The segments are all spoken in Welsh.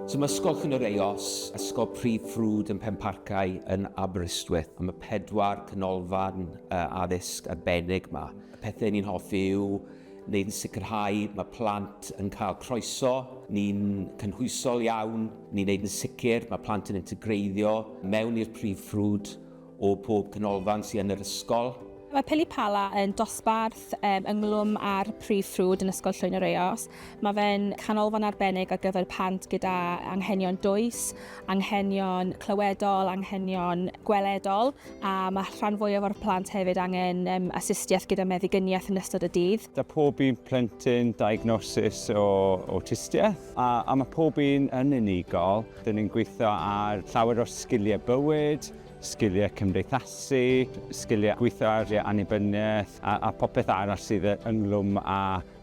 Cymysgwch yn yr Eos, Esgob Prif Ffrwd yn Penparcau yn Aberystwyth, am y pedwar canolfan addysg arbennig 'ma. Y pethau ni'n hoffi yw wneud yn sicrhau mae plant yn cael croeso, ni'n cynhwysol iawn, ni'n wneud yn sicr mae plant yn integreiddio mewn i'r prif ffrwd, o pob canolfan sy yn yr ysgol. Mae Pili Pala yn dosbarth ynghlwm â'r Prif Ffrwd yn Ysgol Llwyn yr Eos. Mae fe'n canolfan arbennig ar gyfer pant gyda anghenion dwys, anghenion clywedol, anghenion gweledol a mae rhan fwyaf o'r plant hefyd angen astudiaeth gyda meddigyniaeth yn ystod y dydd. Da pob un plentyn diagnosis o awtistiaeth a mae pob un yn unigol. Dyn ni'n gweithio ar llawer o sgiliau bywyd, sgiliau cymdeithasu, sgiliau gweithio ar ei annibyniaeth a, a popeth arall sydd ynglwm â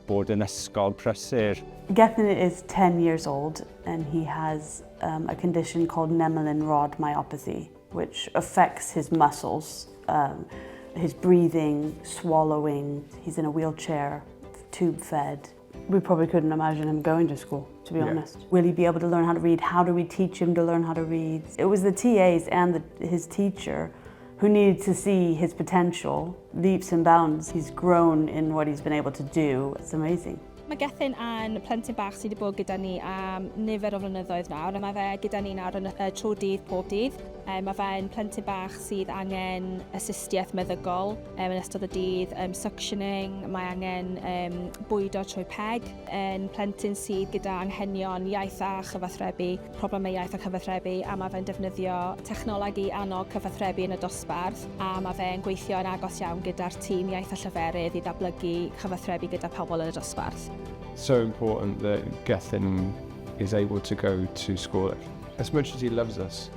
bod yn ysgol prysur. Gethin is 10 years old and he has um, a condition called Nemelin rod myopathy, which affects his muscles, um, his breathing, swallowing, he's in a wheelchair, tube fed. We probably couldn't imagine him going to school, to be yeah. honest. Will he be able to learn how to read? How do we teach him to learn how to read? It was the TAs and the, his teacher who needed to see his potential, leaps and bounds. He's grown in what he's been able to do. It's amazing. Mae Gethin yn plentyn bach sydd wedi bod gyda ni am nifer o flynyddoedd nawr. Mae fe gyda ni nawr yn y tro dydd pob dydd. Mae fe'n plentyn bach sydd angen assistiaeth meddyggol. yn ystod y dydd, um, suctioning, mae angen um, bwydo trwy peg yn plentyn sydd gyda anghenion iaith a chyfathrebu, problemau iaith a chyfathrebu, a mae fe'n defnyddio technoleg i annog cyfathrebu yn y dosbarth, a mae fe'n gweithio yn agos iawn gyda'r tîm iaith a llyferydd i ddatblygu cyfathrebu gyda pobl yn y dosbarth. So important that Gethin is able to go to school. As much as he loves us,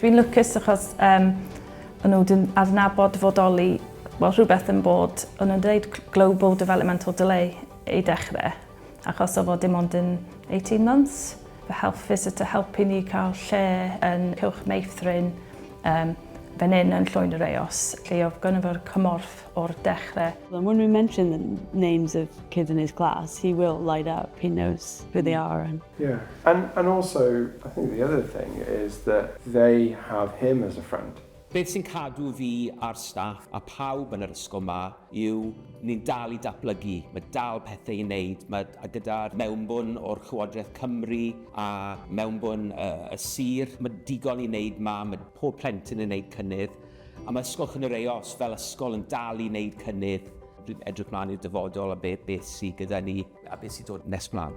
Dwi'n lwcus achos um, o'n nhw wedi adnabod fodoli well, rhywbeth yn bod, o'n nhw'n dweud global developmental delay i dechrau, achos o fod dim ond yn 18 months. Fy health visitor helpu ni cael lle yn Cylch Meithrin, um, fan hyn yn Llwyn yr Eos, lle oedd gynnu fo'r cymorth o'r dechrau. And when we mention the names of kids in his class, he will light up, he knows who they are and Yeah. And, and also, I think the other thing is that they have him as a friend. Beth sy'n cadw fi a'r staff a pawb yn yr ysgol ma yw ni'n dal i datblygu, mae dal pethau i wneud, mae, a gyda'r mewnbwn o'r Llywodraeth Cymru a mewnbwn y, y sir, mae digon i wneud ma, mae pob plentyn yn gwneud cynnydd, a mae Ysgol Chynnyr Eos fel ysgol yn dal i wneud cynnydd. Dwi'n edrych mlaen i'r dyfodol a beth, beth sydd gyda ni. A beth sy'n dod nes mlaen?